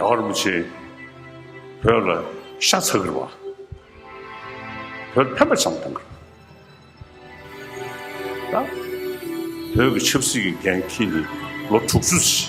རྒྱ་གར་མི་ཆེ་བོད་ལ་ཤ་ཚ་གི་རོ་བོད་ཕན་པ་ཆམ་དང་གི་རོ་བོད་ཀྱི་ཆབ་སྲིད་ཀྱི་འགན་ཁྱེད་ནི་ལོ་དྲུག་ཅུ་ཟིན།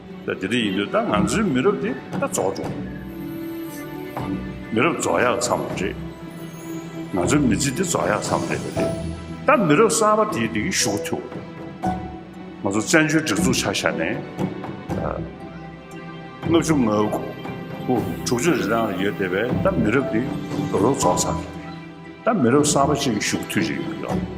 ད་དེ་འདྲ་ཡིན་དུས་ད་ང་ཚོའི་མི་རབས་དེ་ད་རྫོགས་འགྲོ། མི་རབས་རྫོགས་ཡག་ཚང་བ་རེད། ང་ཚོའི་མི་ཚེ་འདི་རྫོགས་ཡག་ཚང་བ་རེད། ད་མི་རབས་གསར་བ་དེས་འདི་གི་ཞུགས་ཐུབ། ང་ཚོ་བཙན་བྱོལ་སྒྲིག་འཛུགས་ཆགས་ཤར་ནས་ད་ལྔ་བཅུ་ང་དགུ་དྲུག་ཅུ་རེ་རང་ཡོད་དེ་བས་ད་མི་རབས་འདི་རོ་རོ་རྫོགས་ཚར། ད་མི་རབས་གསར་བ་ཅིག་གི་ཞུགས་ཐུབ་རེད།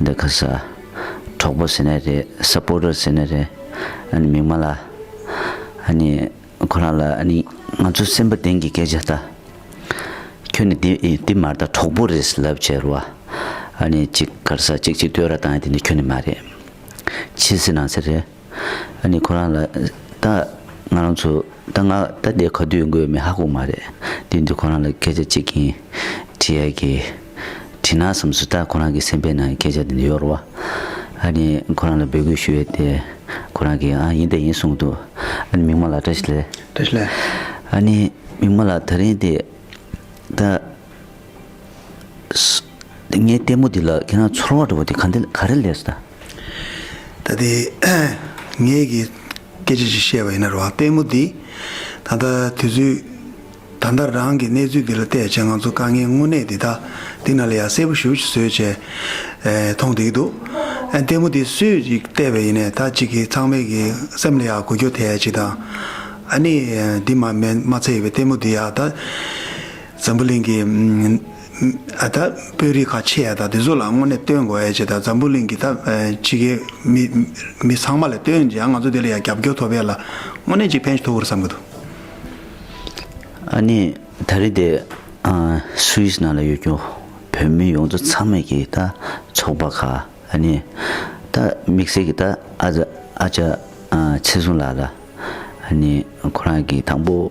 འདི་ག་ས། གྲོགས་པོ་ཟེར་ནི་རེད Supporter ཟེར་ནི་རེད་ཨ་ནི་མིག་མ་ལ། ཨ་ནི་ཁོ་རང་ལ་ཨ་ནི། ང་ཚོ་སེམས་པ་ལྡན་གྱི་སྐད་ཆ་ལྟ། ཁྱོད་ནི་འདི་ཨི་འདི་མར་ད་གྲོགས་པོ་རེད་ལབ་བྱས་རུ་བ། ཨ་ནི་གཅིག་གར་ས་གཅིག་གཅིག་ལྟོས་ར་བཏང་ཡ་དེ་ནི་ཁྱོད་ནི་མ་རེད། ཕྱི་སེ་ནང་སེ་རེད། ཨ་ནི་ཁོ་རང་ལ། ད། ང་རང་ཚོ། ད་ང། ད་འདི་ག་དུས་འགོས་མི་ཧ་གོ་མ་རེད། དུས་འདི་ཁོ་རང་ལ་སྐད་ཆ་གཅིག་གིན། དྲི་ཡ་གི། དྲི་ན་བསམ་སོ་ད་ཁོ་རང་གི་སེམས་པའི་ནང་སྐད་ཆ་དེ་འདི་ཡོར་བ། ཨ་ནི་ཁོ་རང་ལ་འབོད་སྐུལ་ཞུ་ཡོད་དེ། ཁོ་རང་གིས་ཨ་ཡིན་ད་ཡིན་གསུངས་འདུག་ཨ་ནི་མིག་མ་ལ་བཀྲ་ཤིས་ལེ། བཀྲ་ཤིས་ལེ། ཨ་ནི་མིག་མ་ལ་ད་རིང་དེ། ད། ངའི་ལྟད་མོ་འདི་ལ་ཁྱེད་རང་ཚོར་བ་འགྲོ་བ་འདི་ག་འདི་ག་རེ་ལས། ད་ལྟའི་ངེད་ཀྱིས་སྐད་ཆ་ཞིག་བཤད་པ་ཡིན་ན་རོགས་ལྟད་མོ་འདི་ད་ལྟ་དུས་ཚོད་ད་ལྟ་རང་གི་གནས་ཚུལ་འདི་ལ་བལྟས་བྱས་ང་ཚོ་དཀའ་ངལ་དངོས་གནས་འདི་དག་འདི་ན་ལ་ཡ་གསལ་པོ་ཞུ་ཞིག་བཟོས་བྱས་མཐོང་བསྡད་ཀྱི་འདུག་ལྟད་མོ་འདི་སུས་ཅིག་བལྟས་པས་ཡིན་ནས་ད་ཅིག་གིས་ཚང་མས་ཀྱི་སེམས་ལ་ཡ་གོ་རྒྱུ་དེ་ཅིག་དང། ཨ་ནི་འདི་མ་མཚལ་ཡོད་པའི་ལྟད་མོ་འདི་ཡ་ད་འཛམ་བུ་གླིང་གི། ད་དཔོན་རིགས་ཁ་ཆེ་ཡ་དག་དེ་ཚོ་ལ་དངོས་གནས་བསྟོན་དགོས་ཡ་ཅེས་ད་འཛམ་བུ་གླིང་གི་ད་ཕྱི་གའི་མི་ཚང་མ་ལ་བསྟོན་ཅིང་ང་ཚོ་དེ་ལ་ཡང་རྒྱབ་སྐྱོར་ཐོབ་ཡ་ལ་དངོས་གནས་ཅིག་ཕན་ཐོག་འུར་བསམ་གི་འདུག། ཨ་ནི་ད་རེས་དེ Swiss ནང་ལ་ཡོད་རྒྱུ་བོད་མི་ཡོངས་རྫོགས་ཚང་མས་ཀྱིས་ད་ཚོགས་པ་ཁ་ཨ་ནི་ད་དམིགས་བསལ་གྱིས་ད་ཨ་ཅག་ཚེ་གཟུངས་ལགས་ལ་ཨ་ནི་ཁོ་རང་གིས་དང་པོ་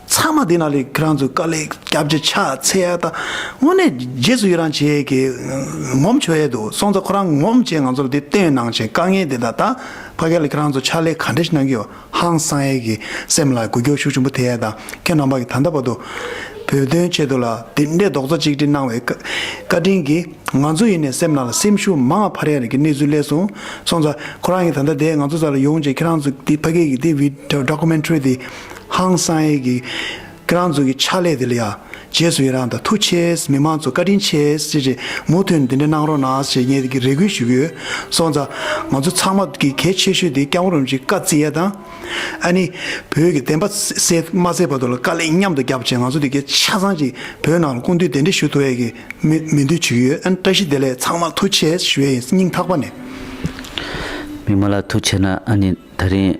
ཚང་མ་དེ་ན་ལས་ཁྱེད་རང་ཚོས་དཀའ་ལས་སྐྱབས་རྗེ་ཕྱག་འཚལ་ཡག་ད་དངོས་གནས་རྗེས་སུ་ཡི་རང་བྱེད་ཡས་ཀྱི་ངོམ་ཆོད་ཡས་འདུག་སོང་ཙ་ཁོ་རང་ངོམ་བྱེད་ང་ཚོར་དེ་བསྟན་གནང་བྱེད་དཀའ་ངལ་དེ་ད་ད་ཕ་ག་ལས་ཁྱེད་རང་ཚོ་ཕྱག་ལས་ག་འདྲ་ཞིག་གནང་གི་ཡོད་ཧང་སང་ཡས་ཀྱི་སེམས་ལ་གུ་གྱོ་ཤུགས་ཆུན་པོ་དེ་ཡས་ད་ཁྱེད་རྣམ་པ་གི་ད་ལྟ་བར་དུ་བོད་དོན་ཆེད་དུ་ལ་དེ་འདྲའི་རྡོག་རྩ་གཅིག་སྒྲིལ་གནང་བའི་བཀའ་དྲིན་གྱིས་ང་ཚོ་ཡིན་ནས་སེམས་ནང་ལ་སེམས་ཤུགས་མང་བ་ཕར་ཡས་རིག་གི་གནས་ཚུལ་གླས་སོང་སོང་ཙ་ཁོ་རང་གི་ད་ད་དེ་ང་ཚོ་ཙ་ལ་ཡོང་བྱེད་ཁྱེད་རང་ཚོ་དེ་ཕ་གའི་གི་དེ་བིད documentary དེ། ཧང་སང་ཨེ་གི། ཁྱེད་རང་ཚོ་གི་ཕྱག་ལས་དེ་ལ་ཡ། རྗེས་སུ་ཡི་རངས་དང་ཐུགས་ཆེས་མི་མང་ཚོ་བཀའ་དྲིན་ཆེས་ཅེས་ཅེས་མུ་མཐུན་དེ་འདྲ་གནང་རོགས་གནང་ཞེས་ངས་རེ་སྐུལ་ཞུ་གི་ཡོད། སོང་ཙང། ང་ཚོ་ཚང་མ་གི་གལ་ཆེ་ཤོས་དེ་སྐྱབས་རོམ་གྱི་བཀའ་བརྩི་ཡ་དང། ཨ་ནི། བོད་ཀྱི་བདེན་པ་གསལ་མ་གསལ་བར་དུ་ལ་དཀའ་ལས་མཉམ་དུ་རྒྱབ་བྱས་ང་ཚོ་དེ་གའི་ཆ་ཚང་གྱི་བོད་ནང་ལ་ཀུན་འདུས་དེ་འདྲ་ཞུ་ཐུ་ཡ་གི་མི་མི་འདུས་བྱུ་གི་ཡོད་ཨ་ནི་བཀྲ་ཤིས་བདེ་ལེགས་ཚང་མར་ཐུགས་ཆེས་ཞུ་ཡ་ཡིན་སྙིང་ཐག་པ་ནས། མི་མང་ལ་ཐུགས་ཆེ་ན་ཨ་ནི་ད་རིང།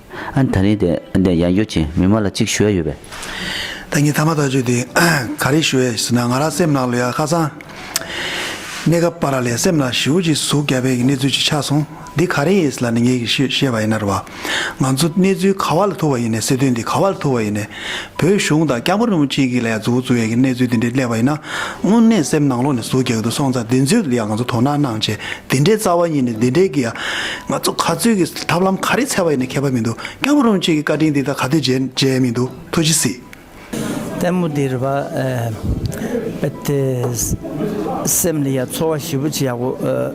ཨ། ད་རིང་དེ་ཡག་ཡོད་ཅིང་མི་མ་ལ་གཅིག་ཞུ་ཡ་ཡོད་པས། ད་ངས་ཐ་མ་ཐག་གཅོད་དེ་ག་རེ་ཞུ་ཡ་ཟེར་ན་ང་རང་སེམས་ནང་ལོ་ཡ་ཁ་སང་གནས་སྐབས་པ་ར་ལས་སེམས་ནང་ཞེའུ་ཅིག་ཟུག་རྒྱ་བལ་གྱི་གནས་ཚུལ་ཅིག་ཆགས་སོང་འདི་ག་རེ་ཡིན་ཟེར་ལ་ནི་ངས་ཤེས་པ་ཡིན་ན་ར་བ། ང་ཚོ་གནས་ཚུལ་ག་བ་ལ་ཐུག་བ་ཡིན་ནས་སྲིད་དོན་འདི་ག་བ་ལ་ཐུག་བ་ཡིན་ནས་བོད་གཞུང་དང་སྐྱག་པ་རིན་པོ་ཆེ་གིས་ལས་འཛུགས་བཙུགས་ཡས་ཀྱི་གནས་ཚུལ་འདི་འདྲའི་སླད་པ་ཡིན་ན། དངོས་གནས་སེམས་ནང་ལོག་ནས་ཟུག་རྒྱག་གི་འདུག་སོང་ཙང་དེ་ཚོའི་ལ་ཡང་ང་ཚོ་དོ་སྣང་གནང་བྱས་དེ་འདྲའི་རྩ་བ་ཉིད་ནས་དེ་འདྲའི་གི་ཡང། ང་ཚོ་ག་ཚོད་ཀྱི་ཐབས་ལམ་ག་རེ་འཚལ་བ་ཡིན་ནས་མཁས་པ་མི་འདུག་སྐྱག་པ་རིན་པོ་ཆེ་གིས་བཀའ་དྲིན་འདི་དག་ག་དུས་མཇལ་མཇལ་མི་འདུག་ཐུགས་རྗེ་གཟིགས། ལྟད་མོ་འདིར་བ་ཨེ། སེམས་ལ་ཡ་འཚོ་བ་ཞི་བུ་ཆེ་ཡག་པོ།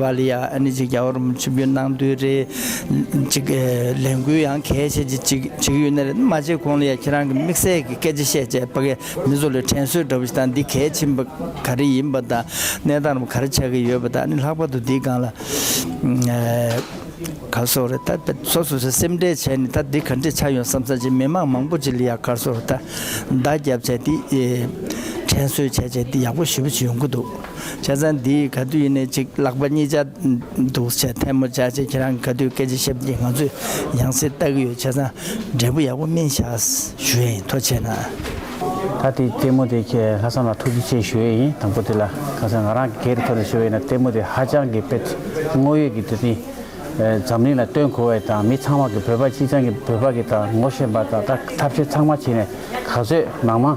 ཝཱ་ལི་ཡཱ་ཨ་ནི་ཅིག་རྒྱ་གར་ཆུ་བོའི་ནང་དུ་རེད། ཅིག་ལས་འགུལ་ཡང་གལ་ཆེ་ཆེ་ཅིག་བྱེད་ཀྱི་ཡོད་ནི་རེད། མ་བྱེད་གོང་ལ་ཡང་ཁྱེད་རང་གི་དམིགས་བསལ་གྱི་སྐད་ཆ་བཤད་ཆེད་པ་ཀའི་མི་ཚོ་ལ་དྲན་གསོས་འདྲ་བོ་ཞིག་དང་འདི་གལ་ཆེན་པོ་ག་རེ་ཡིན་པ་དང་གནས་སྟངས་རྣམས་ག་རེ་ཆགས་ཀྱི་ཡོད་པ་དང་ནི་ལྷག་པར་དུ་འདིའི་སྒང་ལ་ག་སོགས་རེད་ད་ལྟ་སོ་སོས་སེམས་ཁྲལ་བྱས་ནས་ད་འདི་ག་འདྲས་ཆགས་ཡོང་བསམ་ས་ཅིག་མི་མང་མང་པོ་ཅིག་ལ་ཡང་གར་སོགས་ད་བརྡ་བརྒྱབ་བྱས་འདི་དྲན་གསོས་བྱས་བྱས་འདི་ཡག་པོ་ཞེ་པོ་ཅིག་ཡོང་གི་འདུག། བྱ་ས་འདི་ག་དུས་ཡིན་ནས་ཅིག་ལག་པ་གཉིས་བཅག་འདུག་བྱ་ཐལ་མོ་བྱ་བྱེད་ཁྱེད་རང་ག་དུས་སྐད་ཆ་ཤབ་ཀྱིས་ང་ཚོས་ཡང་སེ་ལྟ་གི་ཡོད་བྱ་ས་འབྲས་བུ་ཡག་པོ་སྨིན་ཤག་ཞུ་ཡ་ཡིན་ཐོ་ཆེ་ན། ད་ལྟའི་ལྟད་མོ་དེ་ཁྱེད་ལྷག་བསམ་ལ་ཐུགས་རྗེ་ཆེ་ཞུ་ཡ་ཡིན་དང་པོ་དེ་ལ་གང་ཟེར་ང་རང་གི་སྐད་རིགས་ཐོག་ནས་ཞུ་བ་ཡིན་ན་ལྟད་མོ་དེ་ཧ་ཅང་གི་དཔེ་དངོས་ཡོད་ཀྱི་དུས་ནས་འཛམ་གླིང་ལ་སྟོན་དགོས་བ་ཡིན་དང་མི་ཚང་མ་གི་བོད་པ་སྤྱི་ཚང་གི་བོད་པ་གི་དང་ངོ་ཤེས་པ་དང་ད་ཐབས་ཤེས་ཚང་མ་བྱེད་ནས་ག་ཚོད་ནང་མ།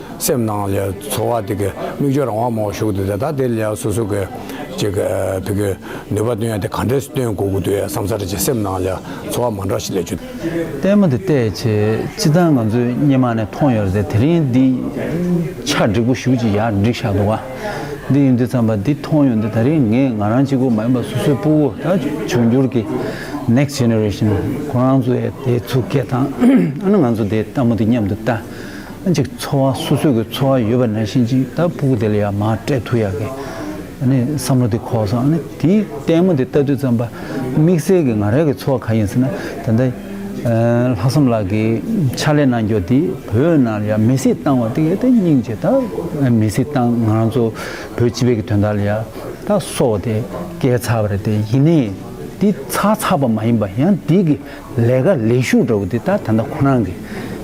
སེམས་ནང་ལས་འཚོ་བ་དེ་གའི་མིག་སྦྱོར་རང་དབང་མང་བོ་ཞུགས་འདུག་དེ་དག་དེ་ལས་སོ་སོ་གའི་ཅེ་ག་ཕེ་གའི་ནུས་པ་བཏོན་ཡ་དེ་ག་འདྲས་སུ་བཏོན་དགོས་དགོས་འདུག་ཡ་བསམ་ཚར་རྗེས་སེམས་ནང་ལས་འཚོ་བ་མང་དྲགས་ཤིག་ལས་ཆུ། ལྟད་མོ་འདི་བལྟས་ཆེ་ཅི་ད་ང་ཚོས་སྙེ་མ་ནས་མཐོང་ཡོད་རེད་དེ་དེ་རིང་འདི་ཆ་འགྲིག་པོ་ཞུགས་ཅིག་ཡ་འགྲིག་ཤག་འདུག་ཨ། འདི་ཡིན་དུས་ཚངས་པ་འདི་མཐོང་ཡོད་འདི་ད་རིང་ངས་ང་རང་གཅིག་པུ་མ་ཡིན་པ་སོ་སོའི་སྤུ་བོ་ད་འབྱུང་འགྱུར་གི next generation ཁོ་རང་ཚོ་ཡ་དེ་ཚུ་སྐད་དང་ཨ་ན་ང་ཚོ་དེ་ལྟ་མོ་འདི་མཉམ་དུ་ལྟ། གཅིག་འཚོ་བ་སོ་སོས་ཀྱི་འཚོ་བ་ཡོད་པ་ན་ཤིན་ཅིག་ད་ཕུག་དེ་ལ་ཡང་མ་སྤྲད་ཐུ་ཡག་གི། ནི་བསམ་བློ་དེ་ཁོག་སོང་ནི་དེ་ལྟད་མོ་དེ་ལྟ་དུས་ཙམ་པ་དམིགས་བསལ་གྱི་ང་རང་གི་འཚོ་བ་ག་ཡིན་ཟེར་ན་ད་ལྟ། ལྷག་བསམ་ལགས་ཀྱི་ཕྱག་ལས་གནང་འགྱོ་དེ་བོད་ནང་ཡང་མི་སྲིད་བཏང་བ་དེ་ག་དེ་སྙིང་རྗེ་ད་མི་སྲིད་བཏང་ང་རང་ཚོ་བོད་སྤྱི་བེ་གི་དོན་དག་ལ་ཡང་ད་སོ་བ་དེ་སྐད་ཚགས་པ་རེད་དེ་ཡིན་ནའི་དེ་ཚགས་ཚགས་པ་མ་ཡིན་པ་ཡང་དེ་གི་ལས་ཀ་ལས་ཞུགས་འདྲ་བོ་འདི་ད་ད་ལྟ་ཁོ་རང་གི་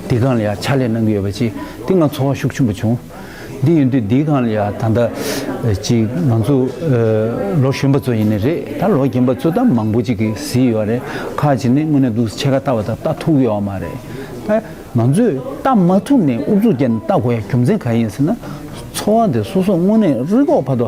འདི་གང་ལ་ཡང་ཕྱག་ལས་གནང་གི་ཡོད་པ་ཅི་འདི་ང་ཚོ་བ་ཤུགས་ཆེན་པོ་བྱུང། འདི་ཡོད་དུས་འདི་གང་ལ་ཡང་ད་ལྟ་ཅི་ང་ཚོ་ལོ་གཞོན་པ་ཚོ་ཡིན་ནི་རེད་ད་ལོ་རྒན་པ་ཚོ་ད་མང་པོ་ཅིག་གིས་ཟིག་ཡོད་རེད་ཁག་ཅིག་ནི་དངོས་གནས་འདུག་ཕྱེད་ཀ་ལྟ་བ་དང་ལྟ་ཐུག་ཡོད་མ་རེད། ད་ང་ཚོས་ལྟ་མ་ཐུབ་ནས་ཨུ་ཚུགས་བརྒྱབ་ནས་ལྟ་དགོས་ཡ་རྒྱུ་མཚན་ག་ཡིན་ཟེར་ན་འཚོ་བ་འདི་སོ་སོ་དངོས་གནས་རི་ཁོག་བར་དུ་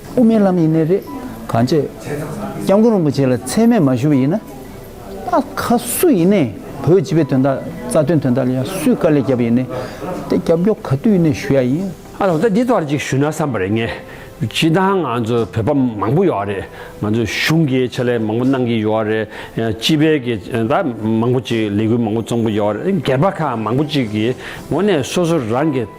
དབུ་མའི་ལམ་ཡིན་ནི་རེད། གང་ཅེས། སྐྱབས་མགོན་རིན་པོ་ཆེ་ལ་ཚད་མས་མ་ཞུ་བ་ཡིན་ན། ད་ག་སུ་ཡིན་ནས་བོད་སྤྱི་པའི་དོན་དག་རྩ་དོན་དོན་དག་ལ་ཡང་སུས་དཀའ་ལས་བརྒྱབ་ཡིན་ནས། དེ་རྒྱབ་སྐྱོར་ག་དུས་ཡིན་ནས་ཞུ་ཡ་ཡིན། ཨ་ལགས་ད་འདི་ལྟར་ཅིག་ཞུས་ན་བསམ་པ་རེད་ངས། སྤྱི་དང་ང་ཚོ་བོད་པ་མང་པོ་ཡོད་རེད། ང་ཚོ་གཞུང་གིས་ཆེད་ལས་མང་པོ་གནང་གི་ཡོད་རེད། སྤྱི་པའི་གི་ད་མང་པོ་ཅིག་ལས་འགུལ་མང་པོ་བཙོང་གི་ཡོད་རེད། སྒེར་པ་ཁག་མང་པོ་ཅིག་གི་ངོ་ནས་སོ་སོ་རང་གི།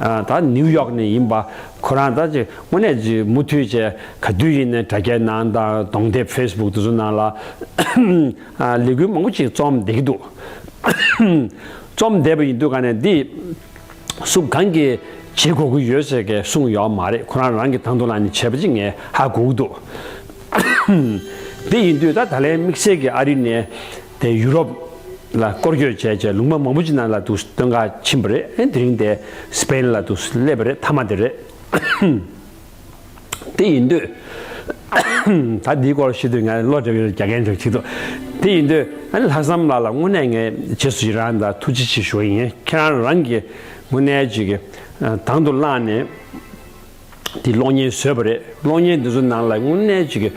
ད་ནིའུ་ཡོག་ནས་ཡིན་པ་ཁོ་རང་ད་ཅི་དངོས་གནས་ཀྱི་མུ་མཐུད་ཅེས་ག་དུས་ཡིན་ནའི་དྲ་རྒྱའི་ནང་དང་གདོང་དེབ Facebook དེ་ཚོ་ནང་ལ་ལས་འགུལ་མང་པོ་ཅིག་རྩོམ་བསྡད་ཀྱི་འདུག་རྩོམ་བསྡད་པ་ཡིན་དུས་ག་ནས་འདི་སུ་གང་གིས་བྱེད་དགོས་ཀྱི་ཡོད་ཟེར་གི་གསུངས་ཡོད་མ་རེད་ཁོ་རང་རང་གི་ད་དུང་ལ་ནི་བྱས་པ་ཅིག་ངས་ཧ་གོ་གི་འདུག་དེ་ཡིན་དུས་ད་ད་ལན་དམིགས་བསལ་གྱི་ཨ་རི་ནས། དེ་ཡུ་རོབ། ལ་སྐོར་སྐྱོད་བྱས་རྗེས་ལུང་པ་མང་པོ་ཅི་ན་ལ་དུག་སྟོན་ཁ་ཕྱིན་པ་རེད་དེ་རིང་དེ་སི་པེན་ལ་དུག་སླེབས་པ་རེད་མཐའ་མ་དེ་རེད། དེ་ཡིན་དུས། ད་འདིའི་སྐོར་ཤེས་དུས་ངས་བློ་བྲལ་བའི་རྒྱ་རྒན་དེར་ཁྱེད་དུ། དེ་ཡིན་དུས། ལྷག་བསམ་ལགས་ལ་དངོས་གནས་ངས་རྗེས་སུ་ཡི་རང་དང་ཐུགས་རྗེ་ཆེ་ཞུ་བ་ཡིན་ཁྱེད་རང་རང་གིས་དངོས་གནས་ཅིག་དང་དུ་བླངས་ནས། དེས་གློག་བརྙན་བཟོས་པ་རེད་གློག་བརྙན་དེ་ཚོ་ནང་ལ་དངོས་གནས་ཅིག་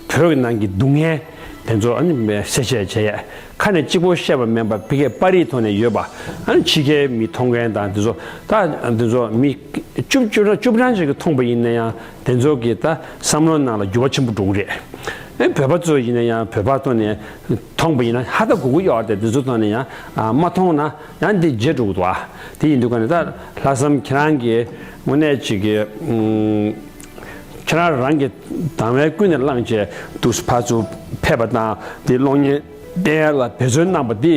བོད་ཀྱི་ནང་གི་སྡུག་བསྔལ་དེ་ཚོ་གསལ་བཤད་བྱས་ཡས་ཁ་ནས་གཅིག་པོ་བཤད་པ་མིན་པ་བི་ཀའི་པར་རིས་ཐོག་ནས་ཡོད་པ་ཕྱི་རྒྱལ་མི་མཐོང་མཁན་དང་དེ་ཚོ་ད་དེ་ཚོ་མི་བཅུ་བཅུ་གྲངས་བཅུ་གྲངས་ཅིག་མཐོང་པ་ཡིན་ན་ཡང་དེ་ཚོ་གི་ད་བསམ་བློ་ནང་ལ་འགྱུར་བ་ཆེན་པོ་འགྲོ་གི་རེད་བོད་པ་ཚོ་ཡིན་ན་ཡང་བོད་པ་ཐོག་ནས་མཐོང་པ་ཡིན་ན་ཧ་ད་གུ་གུ་གཡོག་སྟེ་དེ་ཚོ་ཐོག་ནས་ཡང་མ་མཐོང་ན་ཡང་དེ་རྗེས་འགྲོ་གི་འདུག་བ་དེ་ཡིན་དུས་ཀ་ནས་ད་ལྷག་བསམ་ཁྱེད་རང་གི། དངོས་གནས་ཅིག་གི། ཁྱེད་རང་རང་གི་དང་བས་ཀུན་ནས་བསླངས་བྱས་དུག་གསུམ་ཕར་ཚུར་ཕེབས་པ་དང་དེའི་གློག་བརྙན་བསྟན་ཡར་ལ་བེད་སྤྱོད་གནང་བ་འདི་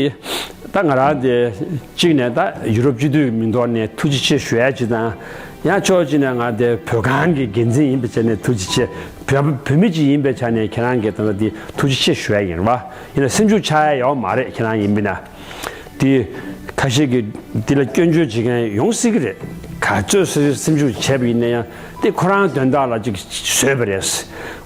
ད་ང་རང་དེ་གཅིག་ནས་ད་ཡུ་རོབ་སྤྱི་འཐུས་མིང་ཐོག་ནས་ཐུགས་རྗེ་ཆེ་ཞུ་ཡ་གཅིག་དང། ཡང་ཕྱོགས་གཅིག་ནས་ང་དེ་བོད་ཁང་གི་འགན་འཛིན་ཡིན་པའི་ཆ་ནས་ཐུགས་རྗེ་ཆེ། བོད་མི་གཅིག་ཡིན་པའི་ཆ་ནས་ཁྱེད་རང་གི་དང་བ་འདི་ཐུགས་རྗེ་ཆེ་ཞུ་ཡ་ཡིན་རེད་བ། ཡིན་ན་སེམས་ཤུགས་ཆགས་ཡ་ཡོད་མ་རེད་ཁྱེད་རང་ཡིན་པས་ན། དེ། ཁ་ཤས་ཀྱིས་དེ་ལ་སྐྱོན་བརྗོད་བྱེད་མཁན་ཡོང་སྲིད་ཀྱི་རེད། ག་ཚོད་སྲིད་ཞུ་སེམས་ཤུགས་བྱས་པ་ཡིན་ན་ཡང་དེ་ཁོ་རང་དོན་དག་ལ་ཅིག་བཟོས་པ་རེད།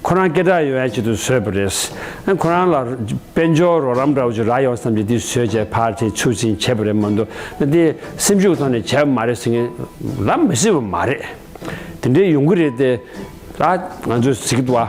ཁོ་རང་སྐད་གྲགས་ཡོད་ཡ་ཆེད་དུ་བཟོས་པ་རེད། ཁོ་རང་ལ་དཔལ་འབྱོར་རོགས་རམ་འདྲ་བོ་ཅིག་རག་ཡོང་བསམ་གྱིས་དེ་བཟོས་བྱས་ཕར་དེ་ཚུར་ཟིན་བྱས་པ་རེད་མ་གཏོགས་དེ་སེམས་ཤུགས་ཐོག་ནས་བྱས་པ་མ་རེད་ཟེར་མཁན་ལབ་མི་སྲིད་པ་མ་རེད། དེ་འདྲའི་ཡོང་གི་རེད་དེ། ད་ང་ཚོས་ཟེར་གི་འདུག་བ།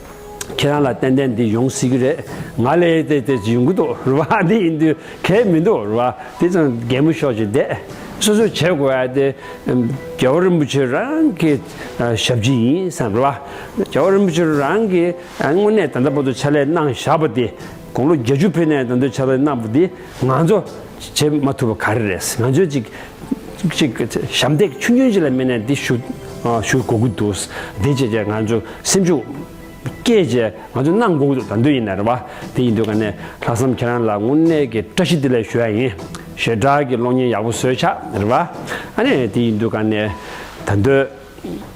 ཁྱེད་རང་ལ་ཏན་ཏན་འདི་ཡོང་སྲིད་ཀྱི་རེད། ང་ལས་ཡས་དེ་དེ་ཡོང་གི་འདུག་རེད་བ། འདི་ཡིན་དུས་གལ་མི་འདུག་རེད་བ། དེ་ཙང་རྒན་མོ་ཤོག་ཅིག་བསྡད། སོ་སོས་བྱེད་དགོས་ཡས་དེ། རྒྱལ་བ་རིན་པོ་ཆེ་རང་གི་ཞབས་ཕྱི་ཡིན་བསམ་རེད་བ། རྒྱལ་བ་རིན་པོ་ཆེ་རང་གི་དངོས་གནས་ད་ལྟ་བར་དུ་ཕྱག་ལས་གནང་བཞག་པ་དེ། དགུང་ལོ་བརྒྱད་ཅུ་ཕེབས་ནས་ད་ལྟ་བར་ཕྱག་ལས་གནང་བ་དེ་ང་ཚོ། བྱེད་མ་ཐུབ་པ་ག་རེ་རེད་ང་ཚོས་ཅིག། ཅིག། ཞབས་འདེགས་ཆུ་སྙོན་ཅིག་ལ་མེད་ནས་འདི་ཞུ། ཞུ་དགོ་གི་འདུག་བདེ་བྱེད་ཅེས་ང་ཚོ་སེམས་ཤུགས། སྐྱེད་ཅེས་ང་ཚོ་གནང་དགོ་གི་འདུག་ད་འདོད་ཡིན་ན་རེད་བ། དེ་ཡིན་དུས་ག་ནས་ལྷག་བསམ་ཁྱེད་རང་ལ་དངོས་གནས་ཀྱི་བཀྲ་ཤིས་བདེ་ལེགས་ཞུ་ཡ་ཡིན། ཞེ་དྲག་གི་གློག་བརྙན་ཡག་པོ་བཟོས་ཆགས་རེད་བ། ཨ་ནས་དེ་ཡིན་དུས་ག་ནས་ད་འདོད།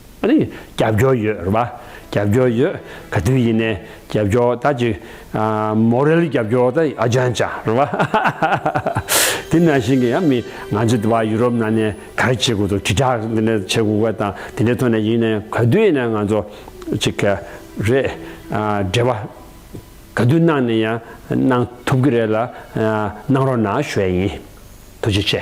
རྒྱབ་སྐྱོར་ཡོད་རེད་པ། རྒྱབ་སྐྱོར་ཡོད་ག་དུས་ཡིན་ནས་རྒྱབ་སྐྱོར་ད་ཅི། མོ་རེ་ལ་རྒྱབ་སྐྱོར་ད་ཨ་ཅང་ཅང་རེད་པ། དེ་ནང་བཞིན་གྱི་ཡང་མི་ང་ཚོ་འདི་བ་ཡུ་རོབ་ནང་ནས་ག་རེ་བྱེད་དགོས་དོ་དྲིལ་བསྒྲགས་འདི་འདྲ་བྱེད་དགོས་ག་དང་དེ་འདྲའི་ཐོག་ནས་ཡིན་ནས་ག་དུས་ཡིན་ན་ང་ཚོ་ཅི་ག་རེ་འབྲེལ་བ་ག་དུས་གནང་ནས་ཡང་གནང་ཐུབ་ཀྱི་རེད་ལ་གནང་རོགས་གནང་ཞུ་བ་ཡིན། ཐུགས་རྗེ་ཆེ།